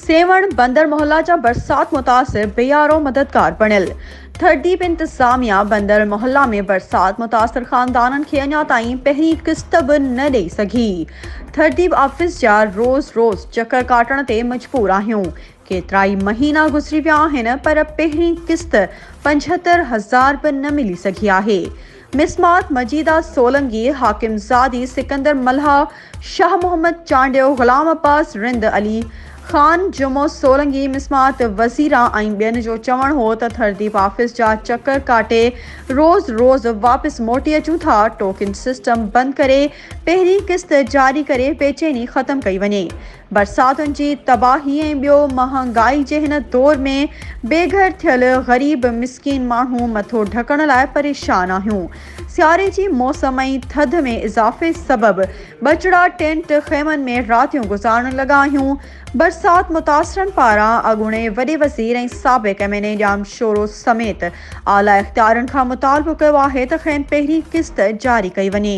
سيوهڻ بندر محله جا برسات متاثر بيارو مددگار بڻيل، ٿرڊيپ انتظاميا بندر محله ۾ برسات متاثر خاندانن کي اڃا تائين پهرين قسط به نه ڏئي سگهي، ٿرڊيپ آفيس جا روز روز چڪر ڪاٽڻ تي مجبور آهيون، ڪيترائي مهينا گذري ويا آهن پر پهرين قسط پنجهتر هزار به نه ملي سگهي آهي. مسمات مجيده سولنگي، حاڪم زادي، سڪندر ملاح، شاهه محمد چانڊيو، غلام عباس رند، علي خان جمعو سولنگي، مسمات وزيران ۽ ٻين جو چوڻ هو ته ٿرديپ آفيس جا چڪر ڪاٽي روز روز واپس موٽي اچون ٿا، ٽوڪن سسٽم بند ڪري پهرين قسط جاري ڪري بيچيني ختم ڪئي وڃي. برساتن جي تباهي ۽ ٻيو مهانگائي جي هن دور ۾ بي گهر ٿيل غريب مسڪين ماڻهو مٿو ڍڪڻ لاء پريشان آهيون. سياري جي موسم ۽ ٿڌ ۾ اضافي سبب ٻچڙا ٽينٽ خيمن ۾ راتيون گذارڻ لڳا آهيون. برسات متاثرن پاران اڳوڻي وڏي وزير ۽ سابق M N A Jam Shoro سميت اعليٰ اختيارين کان مطالبو ڪيو آهي ته کين پهرين قسط جاري ڪئي وڃي.